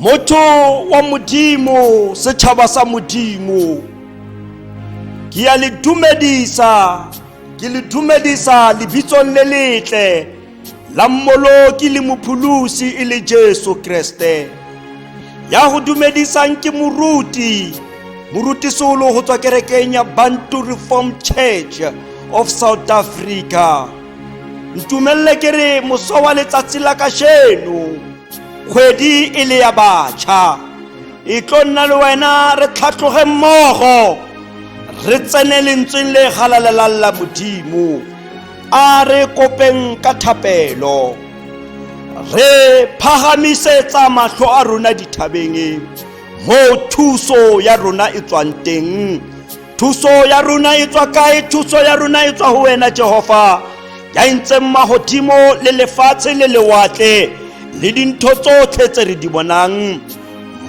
motho wa modimo setšhaba sa modimo ke ya le dumedisa ke le dumedisa lebitsong le letle la mmoloki le mopholosi e le jesu kreste ya go dumedisang ke moruti moruti solo go tswa kerekeng ya bantu reformed church of south africa ntumelele ke re moso wa letsatsi la kasheno kgwedi e le ya batšha e tlo nna le wena re tlhatlhoge mmogo re tsene lentsweng le galalelang la modimo a re kopeng ka thapelo re phagamisetsa matlho a rona dithabeng moo thuso ya rona e tswang teng Thuso ya rona e tswa kae? Thuso ya rona e tswa ho wena Jehova, ya entseng mahodimo le lefatshe le lewatle le dintho tsotlhe tse re di bonang.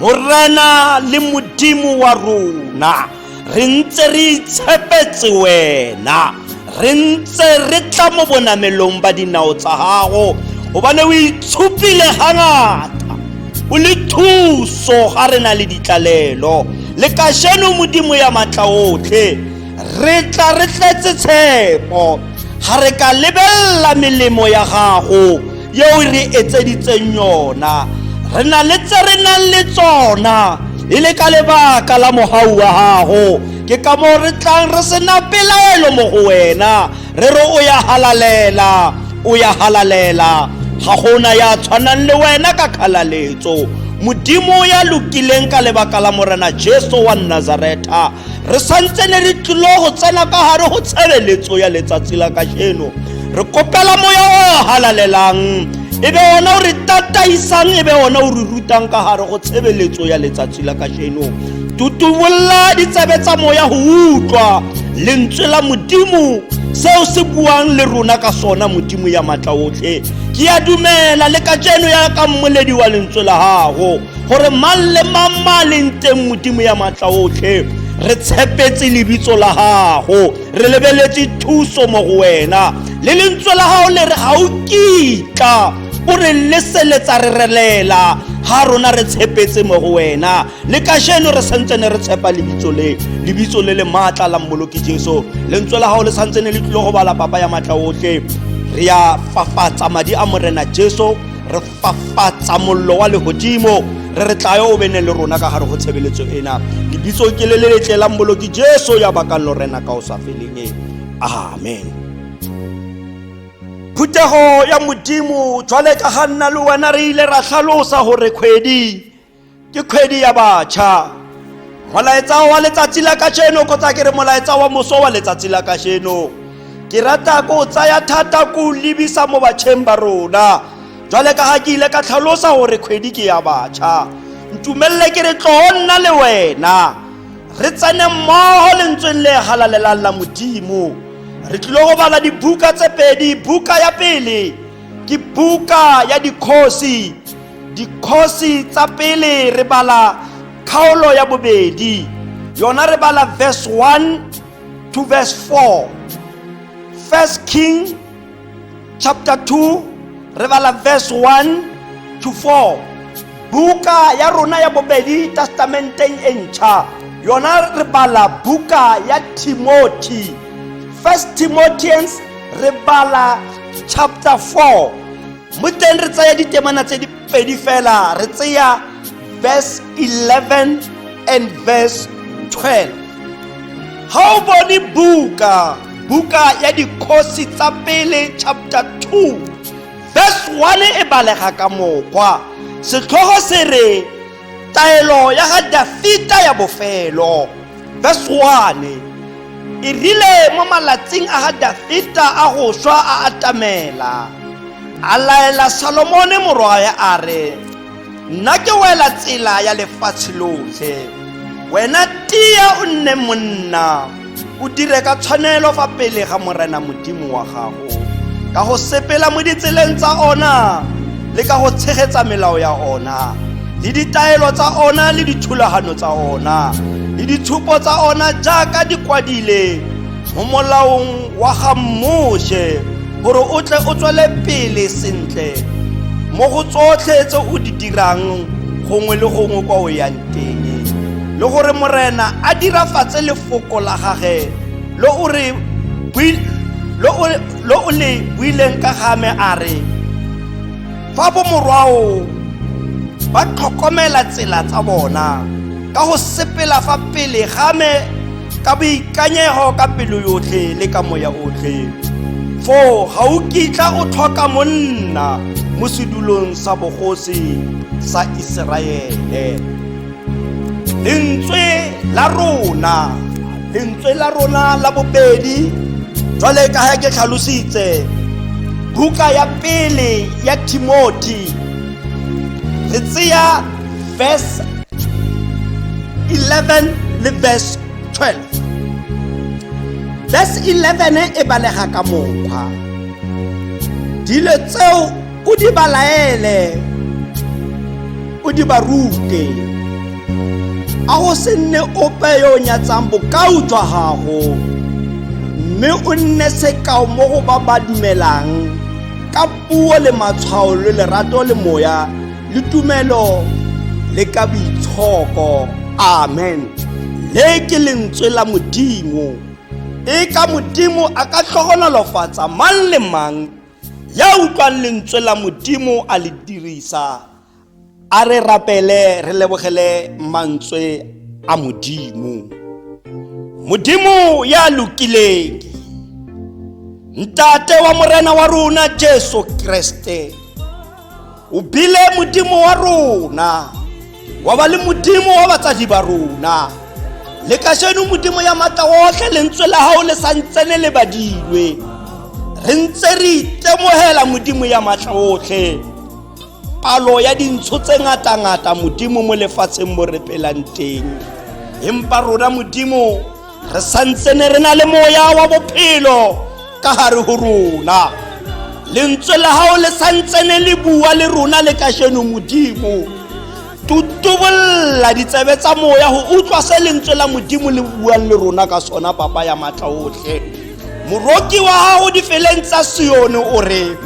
Morena le Modimo wa rona, re ntse re itshepetse wena. re ntse re tla mo bonamelong ba dinao tsa gago gobane o itshupile gangata o le thuso ga re na le ditlalelo le kasheno modimo ya matla otlhe re tla re tletse tshepo ga re ka lebelela melemo ya gago yeo re etseditseng yona re na le tse re nang le tsona e le ka lebaka la mogau wa gago ke ka moo re tlang re sena pelaelo mo go wena re re o ya halalela o ya halalela ga gona ya tshwanang le wena ka kgalaletso modimo ya lokileng ka lebaka la morena jesu wa nazareta re santse ne re tlilo go tsena ka gare go tshebeletso ya letsatsi la kajeno re kopela moya o halalelang e be ona o re tataisang e be ona o re rutang ka gare go tshebeletso ya letsatsi la kajeno tutumolla ditsebe tsa moya go utlwa lentswe la modimo seo se buang le rona ka sona modimo ya matla otlhe ke ya dumela le ka jeno ya ka mmoledi wa lentswe la gago gore mang le mang ma leng teng modimo ya matla otlhe re tshepetse lebitso la gago re lebeletse thuso mo go wena le lentswe la gago le re ga o kitla o re leseletsa re relela ga rona re tshepetse mo go wena le kajeno re santse ne re tshepa lebitso le lebitso le le maatla la mmoloki jesu lentswe la gago le santse ne le tlile go bala papa ya maatla otlhe re ya fafatsa madi a morena jesu re fafatsa mollo wa legodimo re re tlayo o bene le rona ka gare go tshebeletso ena lebitso ke le le letle la mmoloki jesu ya bakang lorena ka o sa feleng e amen phuthego ya modimo jwale ka ga nna le wena re ile ra tlhalosa gore kgwedi ke kgwedi ya batšha molaetsa wa letsatsi la kasheno kgotsa ke re molaetsa wa moso wa letsatsi la kasheno ke rata ko tsaya thata ko lebisa mo batšheng ba rona jwale ka ga ke ile ka tlhalosa gore kgwedi ke ya batšha ntumelele ke re tloo nna le wena re tsene mmogo lentsweng le galalelang la modimo re tlile go bala dibuka tse pedi buka ya pele ke buka ya dikgosi dikgosi tsa pele re bala kgaolo ya bobedi yona re bala verse 1 to verse 4 first king chapter 2 re bala verse 1 to 4 buka ya rona ya bobedi testamenteng e ntšha yona re bala buka ya timothy first timothians re bala chapter 4 mo teng re tsaya ditemana tse di pedi fela re tseya verse 11 and verse 12 ha o bone buka buka ya dikgosi tsa pele chapter 2 verse 1 e balega ka mokgwa setlhogo se re taelo ya ga dafita ya bofelo verse 1 e rile mo malatsing a ga dafita a go swa a atamela a laela salomone morwae a re nna ke wela tsela ya lefatshe lotlhe wena tia o nne monna o dire ka tshwanelo fa pele ga morena modimo wa gago ka go sepela mo ditseleng tsa ona le ka go tshegetsa melao ya ona le ditaelo tsa ona le dithulagano tsa ona le ditshupo tsa ona jaaka di kwadile mo molaong wa ga moshe gore o tle o tswele pele sentle mo go tsotlhe tse o di dirang gongwe le gongwe kwa o yang teng le gore morena a dirafatse lefoko la gage lo o re bui- lo o- lo o le buileng ka ga me a re fa bomorwao ba tlhokomela tsela tsa bona ka go sepela fa pele ga me ka boikanyego ka pelo yotlhe le ka moya otlhe foo ga o kitla o tlhoka monna mo sedulong sa bogosi sa iseraele lentswe la rona lentswe la rona la bobedi jwale ka ga ke tlhalositse buka ya pele ya timothy re tseya verse 11 le verse 12 verse 11 e balega ka mokgwa dilo tseo o di ba laele o di ba rute a go se nne ope yo o nyatsang bokao jwa gago mme o nne sekao mo go ba ba dumelang ka puo le matshwao le lerato le moya le tumelo le ka boitshoko amen le ke lentswe la modimo e ka modimo a ka tlhogonolofatsa mang le mang ya utlwang lentswe la modimo a le dirisa a re rapele re lebogele mantswe a modimo modimo ya lokileng ntate wa morena wa rona jesu kreste o bile modimo wa rona wa ba le modimo wa batsadi ba rona le kasheno modimo ya matla otlhe lentswe la gago le sa ntse le lebadilwe re ntse re itemogela modimo ya matla otlhe palo ya dintsho tse ngata-ngata modimo mo lefatsheng mo re pelang teng empa rona modimo re santsene re na le moya wa bophelo ka gare go rona lentswe la gago le santsene le bua le rona le kasheno modimo tutubolla ditsebe tsa moya go utlwa se lentswe la modimo le buang le rona ka sona papa ya maatla otlhe moroki wa gago difeleng tsa sione o re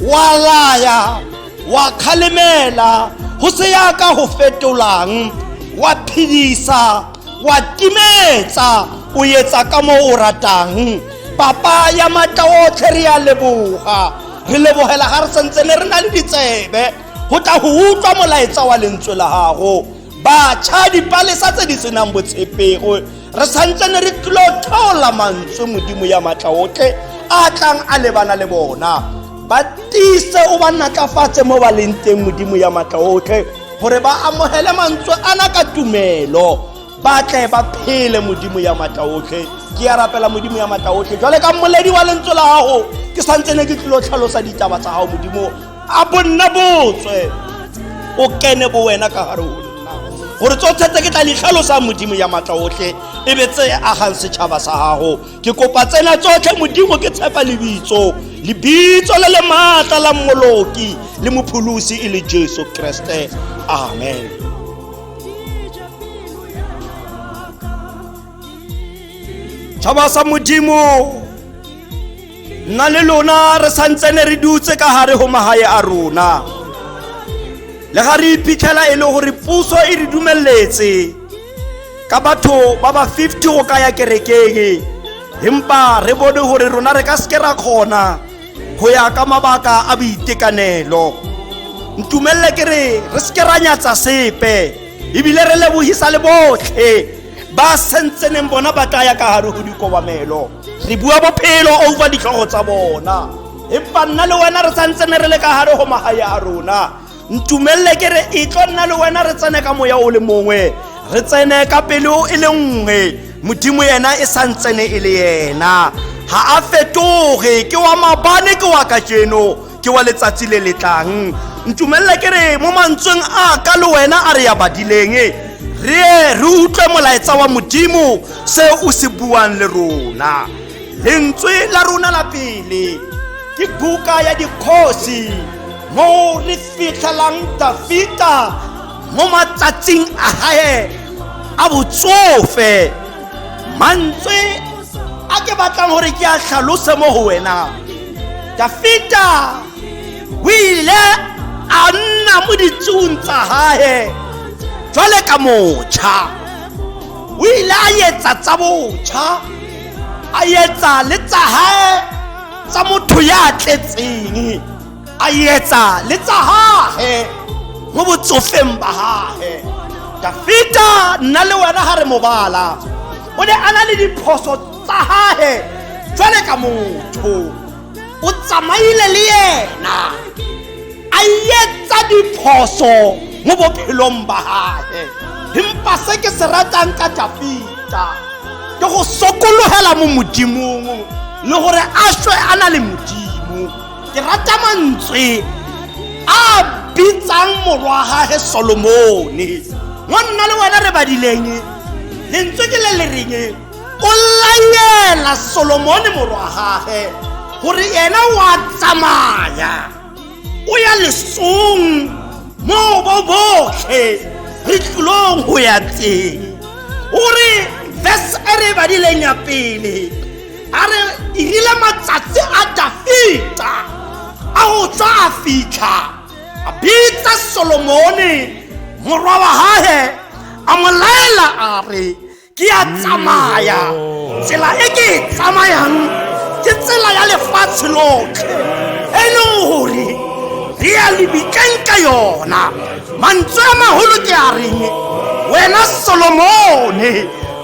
wa laya wa kgalemela go se yaka go fetolang wa phedisa wa timetsa o etsa ka moo o ratang papa ya matla otlhe re ya leboga re lebogela ga re sentse ne re na le ditsebe go tla go utlwa molaetsa wa lentswe la gago batšha dipalesa tse di senang botshepego re santse ne re tlilo tlhola mantswe modimo ya matla otlhe a tlang a lebana le bona ba tiise o ba natlafatse mo ba leng teng modimo ya matla otlhe gore ba amogele mantswe ana ka tumelo ba tle ba phele modimo ya matla otlhe ke ya rapela modimo ya matla otlhe jwale ka mmoledi wa lentswe la gago ke santse ne ke tlilo tlhalosa ditaba tsa gago modimo a bonna botswe o kene bo wena ka gare o nna gore tsotlhe tse ke tla di tlhalosang modimo ya matla otlhe e be tse agang setšhaba sa gago ke kopa tsena tsotlhe modimo ke tshepa lebitso lebitso le le maatla la mmoloki le mopholosi e le jesu kreste amen tšhaba sa modimo nna le lona re santsene re dutse ka gare go magae a rona le ga re iphitlhela e le gore puso e re dumeletse ka batho ba ba 50 go ka ya kerekeng empa re bone gore rona re ka seke ra kgona go ya ka mabaka a boitekanelo ntumelele ke re re seke ra nyatsa sepe ebile re lebogisa le botlhe ba sentseneng bona ba tla ya ka gare go dikobamelo re bua bophelo over ditlhogo tsa bona empa nna le wena re santsene re le ka gare go magae a rona ntumelele ke re e tlo nna le wena re tsene ka moya o le mongwe re tsene ka pelo e le nngwe modimo yena e sa ntsene e le yena ga a fetoge ke wa mabane ke wa kajeno ke wa letsatsi le le tlang ntumelele ke re mo mantsweng a ka le wena a re ya badileng re ye re utlwe molaetsa wa modimo se o se buang le rona lentswe la rona la pele ke buka ya dikgosi mo re fitlhelang dafita mo matsatsing a gae a botsofe mantswe a ke batlang gore ke a tlhalose mo go wena dafita o ile a nna mo ditsong tsa gae jwale ka motšha o ile a etsa tsa botšha a etsa le tsa gae tsa motho ya tletseng a etsa le tsa gage mo botsofeng ba gage dafita nna le wena ga re mobala o ne a na le diphoso tsa gage jwale ka motho o tsamaile le yena a etsa diphoso mo bophelong ba gage empa se ke se ratang ka dafita ke go sokologela mo modimong le gore a swe a na le modimo ke rata mantswe a bitsang morwa gage solomone mo nna le wena re badileng lentswe ke le le reng o layela solomone morwa gage gore yena wa tsamaya o ya lesong mo bo botlhe re tlolong go ya teng o re verse e re badileng ya pele a re irile matsatsi a dafita a go tswa a fitlha a bitsa solomone morwa wa gage a mo laela a re ke a tsamaya tsela e ke e tsamayang ke tsela ya lefatshe lotlhe e leng gore re ya lebikeng ka yona mantswe a magolo ke a reng wena solomone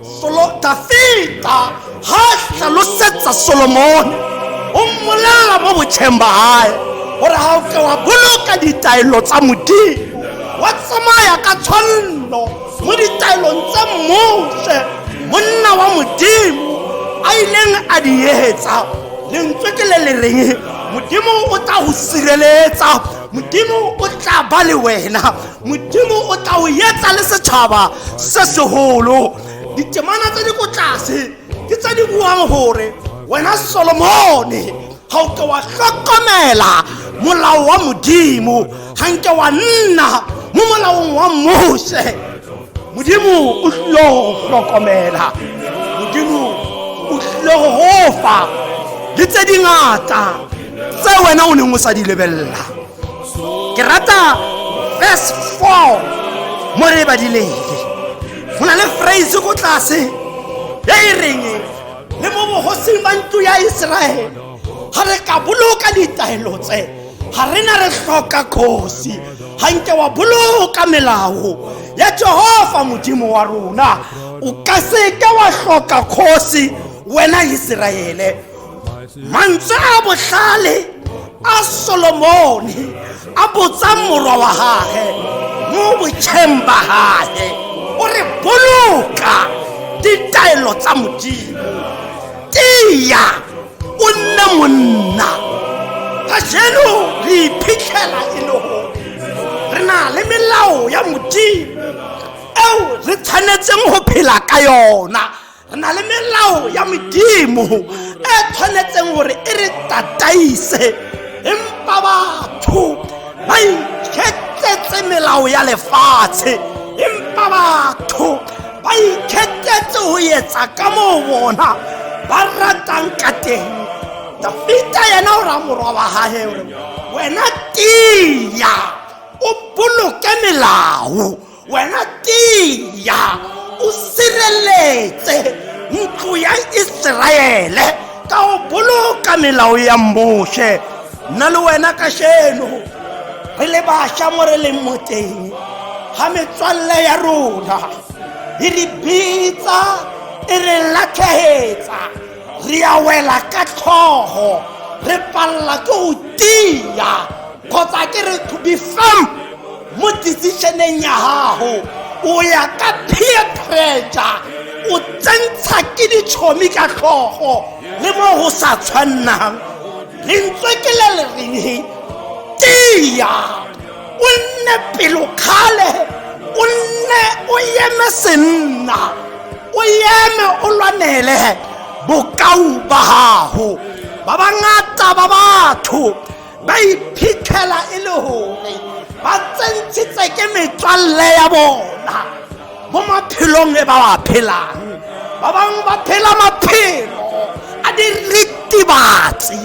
Solo Dafita ha hlalosetsa Solomone o mmolela mo botjheng ba hae gore ga o ke wa boloka ditaelo tsa modimo wa tsamaya ka tshwanno mo ditaelong tse mose monna wa modimo a ileng a di etsa lentswe ke le le reng modimo o tla go sireletsa modimo o tla ba le wena modimo o tla o etsa le setšhaba se segolo ditemana tse di ko tlase ke tse di buang gore wena solomone ga o ke wa tlhokomela molao wa modimo ga nke wa nna mo molaong wa mose modimo o tlile go tlhokomela modimo o tlile go gofa le tse dingata tse wena o neng o sa di lebelela ke rata verse 4 mo re badileng go na le phrase ko tlase e e reng le mo bogosing ba ntlo ya iseraele ga re ka boloka ditaelo tse ga re na re tlhoka kgosi ga nke wa boloka melao ya jehova modimo wa rona o ka seke wa tlhoka kgosi wena iseraele mantswe a botlhale a solomone a botsang morwa wa gage mo botšheng ba gage o re boloka ditaelo tsa modimo tia o nne monna ka jeno re iphitlhela e le gore re na le melao ya modimo eo re tshwanetseng go phela ka yona re na le melao ya modimo e tshwanetseng gore e re tataise empa batho ba ikgetsetse melao ya lefatshe empa batho ba ikgetsetse go etsa ka moo bona ba ratang ka teng dafita yena o ra morwa wa gage gore wena tiya o boloke melao wena tiya o sireletse ntlo ya iseraele ka go boloka melao ya moshe nna le wena ka sheno re le bašwa mo re leng mo teng ga metswalle ya rona e re bitsa e re latlhegetsa re ya wela ka tlhogo re palela ke go tia kgotsa ke re to be firm mo decisioneng ya gago o ya ka peer pressure o tsentsha ke ditšhomi ka tlhogo le mo go sa tshwannang lentswe ke le le reng tia o nne pelokgale o nne o eme senna o eme o lwanele bokau ba gago ba bangata ba batho ba iphitlhela e le gore ba tsentshitse ke metswalle ya bona mo maphelong e ba wa phelang ba bangwe ba phela maphelo a diritibatsi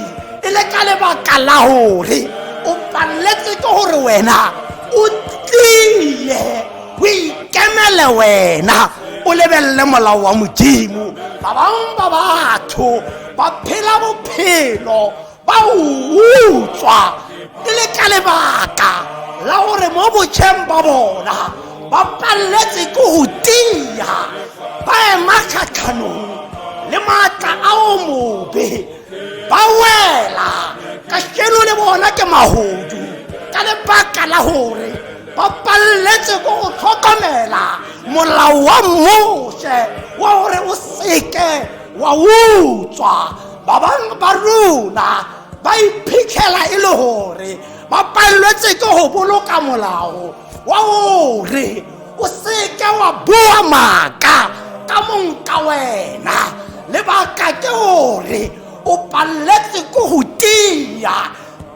e le ka lebaka la gore o paletse ke gore wena o tlile o ikemele wena o lebelele molao wa modimo ba bangwe ba batho ba phela bophelo ba utswa e le ka lebaka la gore mo botšheng ba bona ba paleletse ke go tia ba ema kgatlhanong le maatla a o mobe ba wela ka keno le bona ke magodu ka lebaka la gore ba paleletse ko go tlhokomela molao wa mose wa gore o seke wa utswa ba bangwe ba rona ba iphitlhela e le gore ba palelwetse ke go boloka molao wa gore o seke wa boa maaka ka mong ka wena lebaka ke gore o paleletse ko go tia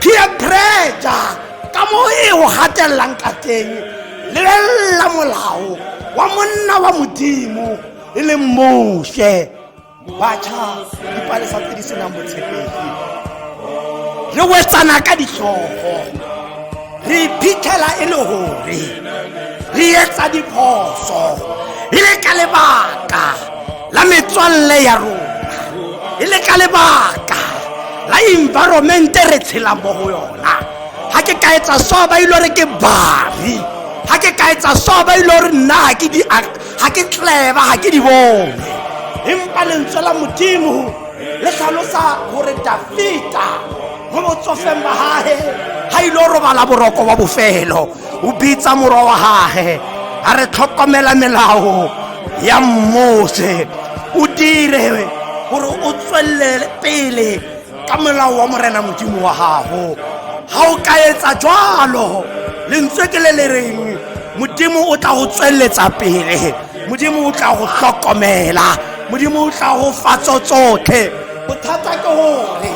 peer pressure ka mo e o gatelelang ka teng lebelela molao wa monna wa modimo e leng mose batšha dipalesa tse di senang botshepegi re wetsana ka ditlhogo re iphitlhela e le gore re etsa diphoso e le ka lebaka la metswalle ya rona e le ka lebaka la environmente re tshelang mo go yona ga ke ka etsa so ba ile re ke bari ga ke ka etsa so ba ile re nna ga ke tleba ga ke di bone empa lentswe la modimo le tlhalosa gore dafita mo botsofeng ba gage ga ile robala boroko wa bofelo o bitsa morwa wa gage a re tlhokomela melao ya mose o dire gore o tswelele pele ka molao wa morena modimo wa gago ga o ka etsa jalo lentswe ke le le reng modimo o tla go tsweletsa pele modimo o tla go hlokomela modimo o tla go fatso tsotlhe bothata ke gore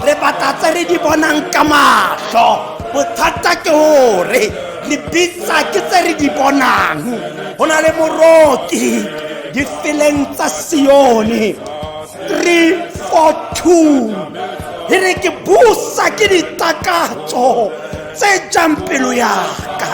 re batla tse re di bonang ka matlho bothata ke gore re bitsa ke tse re di bonang go na le moroki difeleng tsa sione 342 e re ke busa ke ditakatso tse jang pelo yaka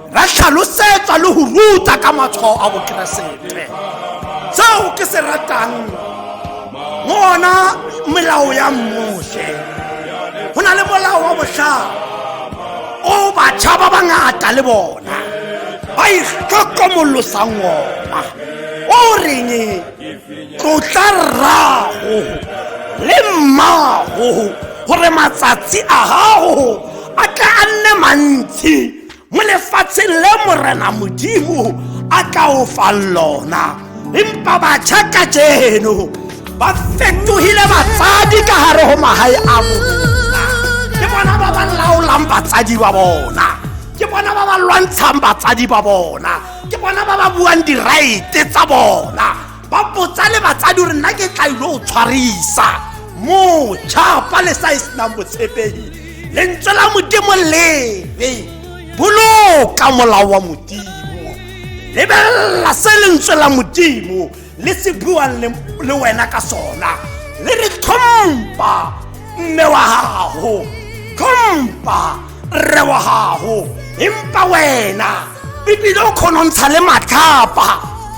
ra tlhalosetswa le go ruta ka matshwao a bokeresete seo ke se ratang mo ona melao ya mmotlhe go na le molao wa botlhao o batšha ba bangata le bona ba itlhokomolosang ona o reng tlotla rrago le mmago gore matsatsi a gago a tla a nne mantsi mo lefatsheng le morena modimo a tla o fang lona empa batjha ka jeno ba fetohile batsadi ka gare go magae a bona ke bona ba ba laolang batsadi ba bona ke bona ba ba lwantshang batsadi ba bona ke bona ba ba buang diraete tsa bona ba botsa le batsadi gore nna ke tla ilo o tshwarisa moja fa le sa e senang botshepegi lentswe la modimo lebe boloka molao wa modimo lebelela se lentswe la modimo le se buang le wena ka sona le re tlhompha mme wa gago tlhompha rre wa gago empa wena ebile o kgonontsha le matlhapa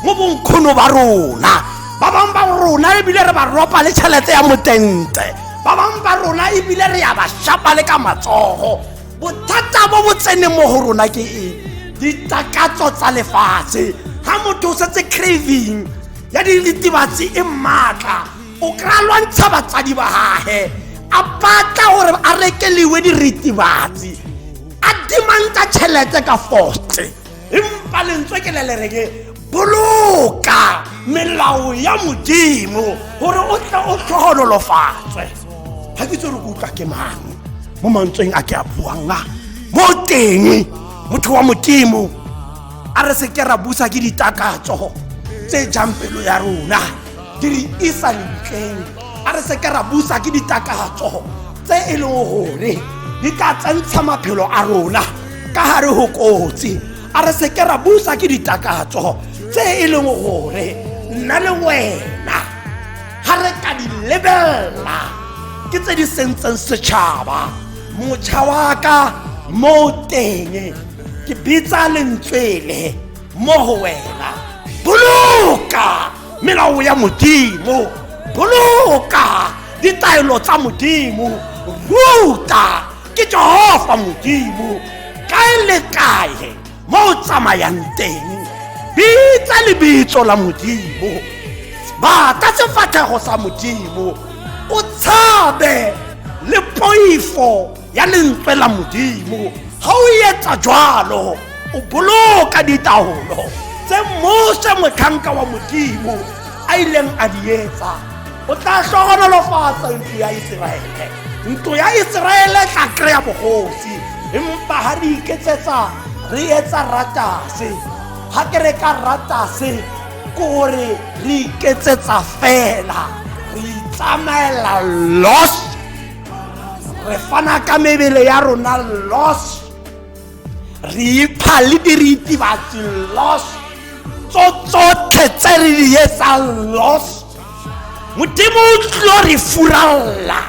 mo bonkgono ba rona ba bangwe ba rona ebile re ba ropa le tšhelete ya motente ba bangwe ba rona ebile re ya ba shapa le ka matsogo bothata bo bo tseneng mo go rona ke eng ditakatso tsa lefatshe ga motho o setse craving ya diritibatsi e maatla o kry-a lwantsha batsadi ba gage a batla gore a rekeliwe diritibatsi a dimanta tšhelete ka foste empa lentswe ke le lereke boloka melao ya modimo gore o tle o tlhogonolofatswe ga ke tsere kutlwa ke mang mo mantsweng a ke a buang a mo teng motho wa modimo a re se ke ra busa ke ditakatso tse jang pelo ya rona di re isa ntleng a re seke ra busa ke ditakatso tse e leng gore di tla tsentsha maphelo a rona ka gare go kotsi a re seke ra busa ke ditakatso tse e leng gore nna le wena ga re ka di lebelela ke tse di sentseng setšhaba motšha wa ka mo teng ke bitsa lentswele mo go wena boloka melao ya modimo boloka ditaelo tsa modimo ruta ke jehova modimo kae le kae mo o tsamayang teng bitsa lebitso la modimo bata sefatlhego sa modimo o tshabe le poifo ya lentswe la modimo ga o etsa jalo o boloka ditaolo tse mose motlhanka wa modimo a ileng a di etsa o tla tlhogonolofatsa ntlo ya iseraele ntlo ya iseraele tla kry-a bogosi empa ga re iketsetsa re etsa ratase ga ke re ka ratase kore re iketsetsa fela re itsamaela lost re fana ka mebele ya rona los re ipha le diritibatsi los tso tsotlhe tse re di etsang los modimo o tlo re furalela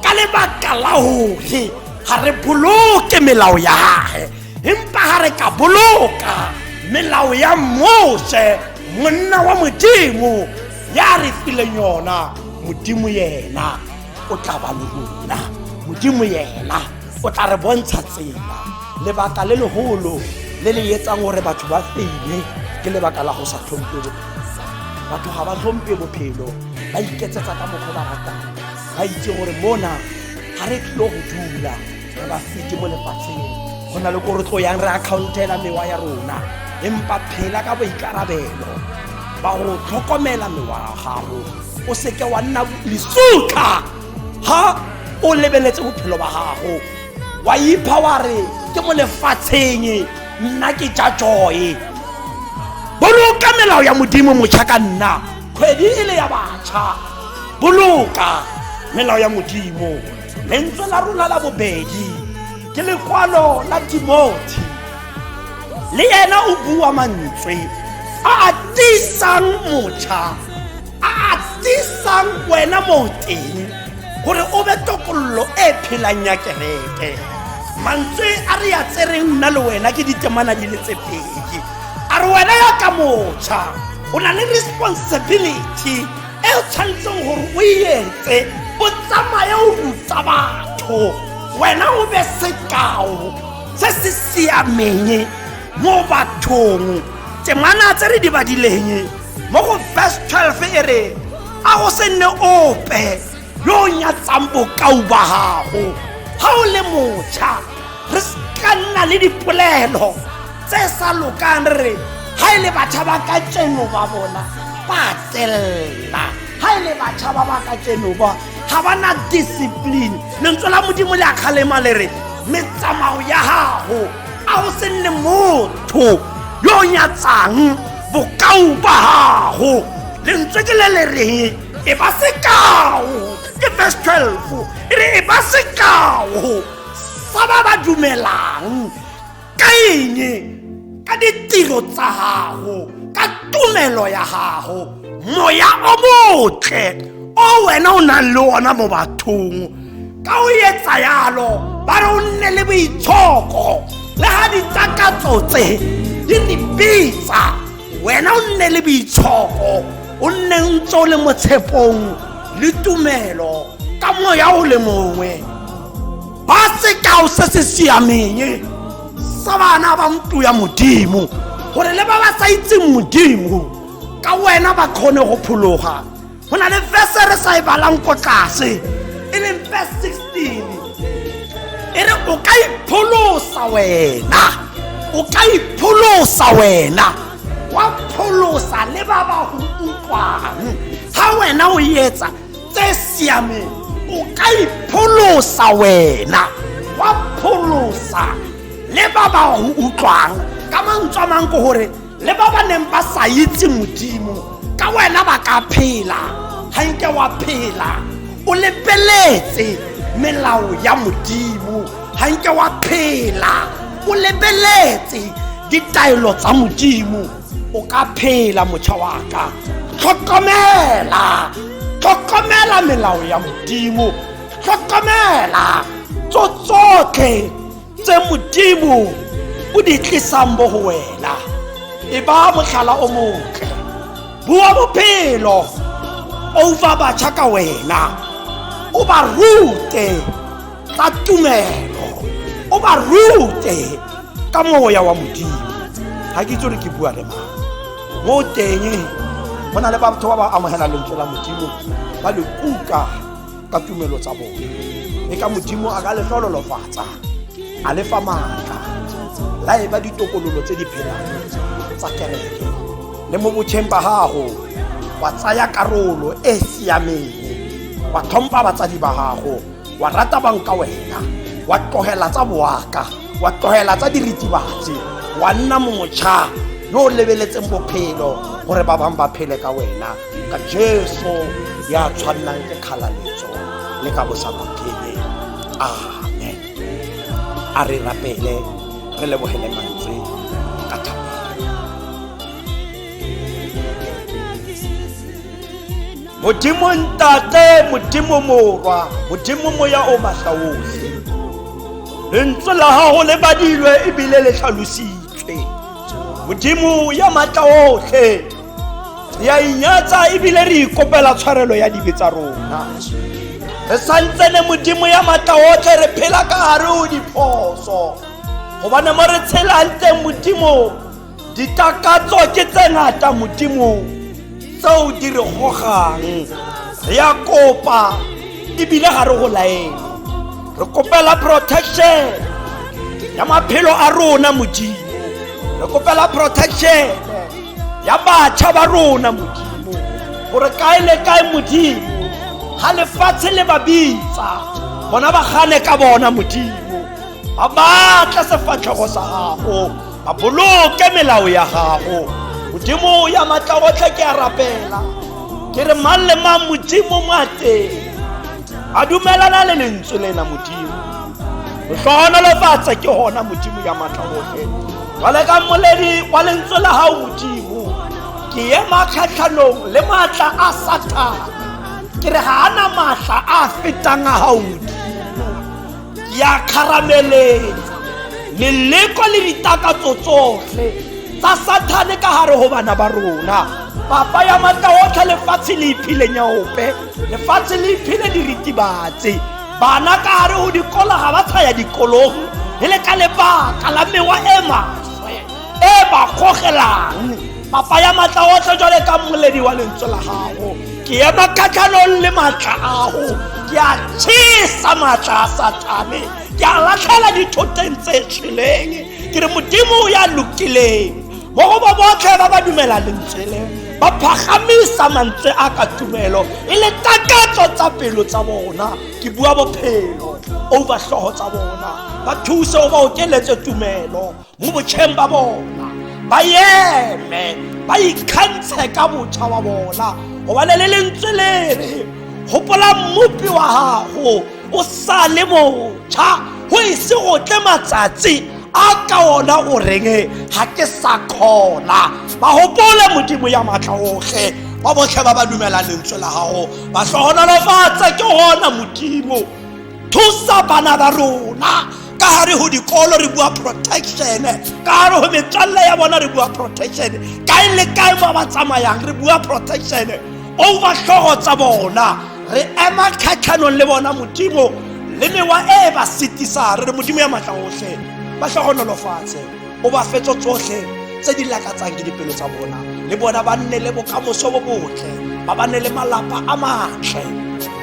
ka lebaka la gore ga re boloke melao ya gage empa ga re ka boloka melao ya mose monna wa modimo ya re fileng yona modimo yena o tla ba le rona modimo yena o tla re bontsha tsela lebaka le legolo le le etsang gore batho ba feile ke lebaka la go sa tlhompe batho ga ba tlhompe bophelo ba iketsetsa ka mokgwa ba ratang ba itse gore mona ga re tlilo go dula re ba fete mo lefatsheng go na le ko re tlo yang re accountela mewa ya rona empa phela ka boikarabelo ba go tlhokomela mewa ya gago o seke wa nna lesutlha ha o lebeletse bophelo ba gago wa ipha wa re ke mo lefatsheng nna ke ja joe boloka melao ya modimo motšha ka nna kgwedi e le ya batšha boloka melao ya modimo lentswe la rona la bobedi ke lekwalo la timothy le yena o bua mantswe a a tisang mocha a a tisang wena moteng gore o be tokololo e phelang ya kereke mantswe a re ya tsereng nna le wena ke ditemana di le tse pedi a re wena ya ka mocha o na le responsibility e o tshwanetseng gore o e etse o tsamaye o ruta batho wena o be sekao se se siameng mo bathong temana tse re di badileng mo go verse 12 e re a go se nne ope yo o nyatsang bokao ba gago ga o le motšha re ka nna le dipolelo tse sa lokang re ha e le batjha ba ka tseno ba bona ba tsella ha e le batjha ba ba ka tseno ba ga ba na discipline lentswe la modimo le a kgalema le re metsamao ya gago a o se nne motho yo o nyatsang bokao ba gago lentswe ke le le reng e ba sekao ke verse 12 e re e ba sekao sa ba ba dumelang ka eng ka ditiro tsa gago ka tumelo ya gago moya o motle o wena o nang le ona mo bathong ka o etsa yalo ba re o nne le boitshoko le ga ditakatso tse di re bitsa wena o nne le boitshogo o nne ntse o le mo tshepong le tumelo ka moya o le mongwe ba sekao se se siameng sa bana ba mtu ya modimo gore le ba ba sa itseng modimo ka wena ba kgone go phologa go na le verse re sa e balang ko tlase e leng verse 16 e re o ka ipholosa wena o ka ipholosa wena wa pholosa le ba ba go utlwang ga wena o etsa tse siameng o ka ipholosa wena wa pholosa le ba ba go utlwang ka mantswe a mang ke gore le ba ba neng ba sa itse modimo ka wena ba ka phela ga nke wa phela o lebeletse melao ya modimo ga nke wa phela o lebeletse ditaelo tsa modimo o ka phela motšha wa ka tlhokomela tlhokomela melao ya modimo tlhokomela tso tsotlhe tse modimo o di tlisang mo go wena e ba motlhala o motle bua bophelo over batjha ka wena o ba rute ka tumelo o ba rute ka moya wa modimo ga ke itse gore ke bua le mang mo teng go na le batho ba ba amogela lentswe la modimo ba le kuka ka tumelo tsa bone e ka modimo a ka le tlololofatsa a le fa maatla la e ba ditokololo tse di phelang tsa kereke le mo botšheng ba gago wa tsaya karolo e e siameng wa tlhompha batsadi ba gago wa rata bang ka wena wa tlogela tsa boaka wa tlogela tsa diritibatsi wa nna motšha yo o lebeletseng bophelo gore ba bangwe ba phele ka wena ka jesu ya tshwannang ke kgalaletso le ka bosabokhele amen a re rapele re lebogele mantswe ka thabo modimo ntate modimo morwa modimo moya o matla otlhe lentswe la gago le badilwe ebile le tlhalositswe modimo ya matla otlhe re a inyatsa ebile re ikopela tshwarelo ya dibe tsa rona re santsene modimo ya maatla otlhe re phela ka gare o diphoso gobane mo re tshelang teng modimo ditakatso ke tse ngata modimo tseo di re gogang re ya kopa ebile ga re go laele re kopela protection ya maphelo a rona modimo re kopela protection ya batšha ba rona modimo gore kae le kae modimo ga lefatshe le ba bitsa bona ba gane ka bona modimo ba batla sefatlhego sa gago ba boloke melao ya gago modimo ya matla otlhe ke a rapela ke re mang le mang modimo mo a teng a dumelana le lentswe lena modimo go tlhogonolofatsa ke gona modimo ya matla otlhe jale ka moledi wa lentswe la gago modimo ke ema kgatlhanong le maatla a satana ke re ga ana maatla a fetang a gago modimo ke a kgarameletsa leleko le ditakatso tsotlhe tsa sathane ka gare go bana ba rona papa ya matla otlhe lefatshe le iphileng ya ope lefatshe le iphile diritibatse bana ka gare go dikola ga ba tshaya dikolong e le ka lebaka la mewa e maswe e ba gogelang papa ya matla otlhe jwale ka mmoledi wa lentswe la gago ke ema kgatlhanong le matla ago ke a tshesa matla a satane ke a latlhela dithoteng tse tshweleng ke re modimo ya lokileng mo go ba botlhe ba ba dumela lentswe leo ba phagamisa mantswe a ka tumelo e le takatso tsa pelo tsa bona ke bua bophelo overtlhogo tsa bona ba thuse o ba okeletse tumelo mo botšheng ba bona ba eme ba ikgantshe ka botšha wa bona gobane le lentswe le re gopola mmopi wa gago o sa le botšha go ise go tle matsatsi a ka ona o reng ga ke sa kgona ba gopole modimo ya maatla otlhe ba botlhe ba ba dumela lentswe la gago ba tlhogonolofatse ke gona modimo thusa bana ba rona ka gare go dikolo re bua protection ka gare go metswalle ya bona re bua protection kae le kae fa ba tsamayang re bua protection overtlhogo tsa bona re ema kgatlhanong le bona modimo le mewa e e ba setisang re re modimo ya matla otlhe ba tlhogonolofatshe o ba fetso tsotlhe tse di lakatsang ke dipelo tsa bona le bona ba nne le bokamoso bo botle ba ba ne le malapa a matle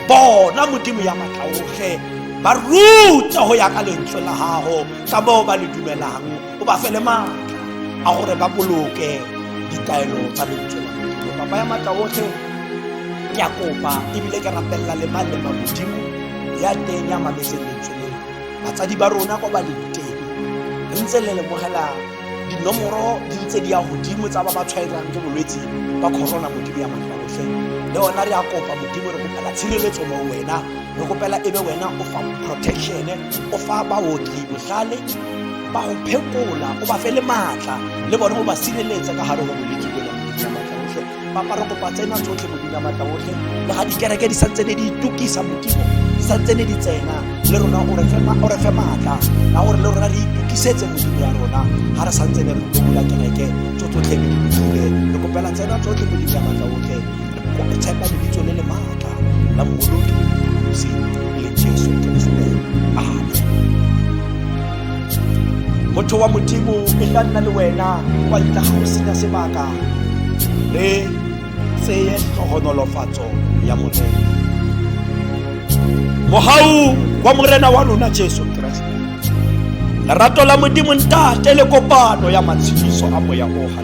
bona modimo ya matla otlhe ba rute go ya ka lentswe la gago ka moo ba le dumelang o ba fele ma a gore ba boloke ditaelo tsa lentswe la modimo papa ya matla otlhe ke a kopa ebile ke rapelela le mang le mang modimo ya teng ya mametseng lentswe leo batsadi ba rona kwa ba leng teng re ntse le lemogela dinomoro di ntse di ya godimo tsa ba ba tshwaelang ke bolwetse ba corona modimo ya matla otlhe le ona re a kopa modimo re kopela tshireletso mo wena re kopela e be wena o fa protection o fa baoki botlhale ba go phekola o ba fe le maatla le bone go ba sireletsa ka gare go bolwetse jona modimo maatla otlhe papa re kopa tsena tsotlhe modimo maatla otlhe le ga dikereke di santse ne di itukisa modimo di santse ne di tsena le rona o re fe maatla ka gore le rona re itukisetse modimo ya rona ga re santse ne re tsola kereke tso tsotlhe ke di kopela tsena tsotlhe modimo ya maatla otlhe kwa go tshepa lebitso le le maatla la mmoloki mosi le jesu keresete amen motho wa modimo e tla nna le wena kwa ntle ga go senya sebaka re tseye tlhogonolofatso ya morena mogau wa morena wa lona jesu keresete lerato la modimo ntate le kopano ya matshediso a moya o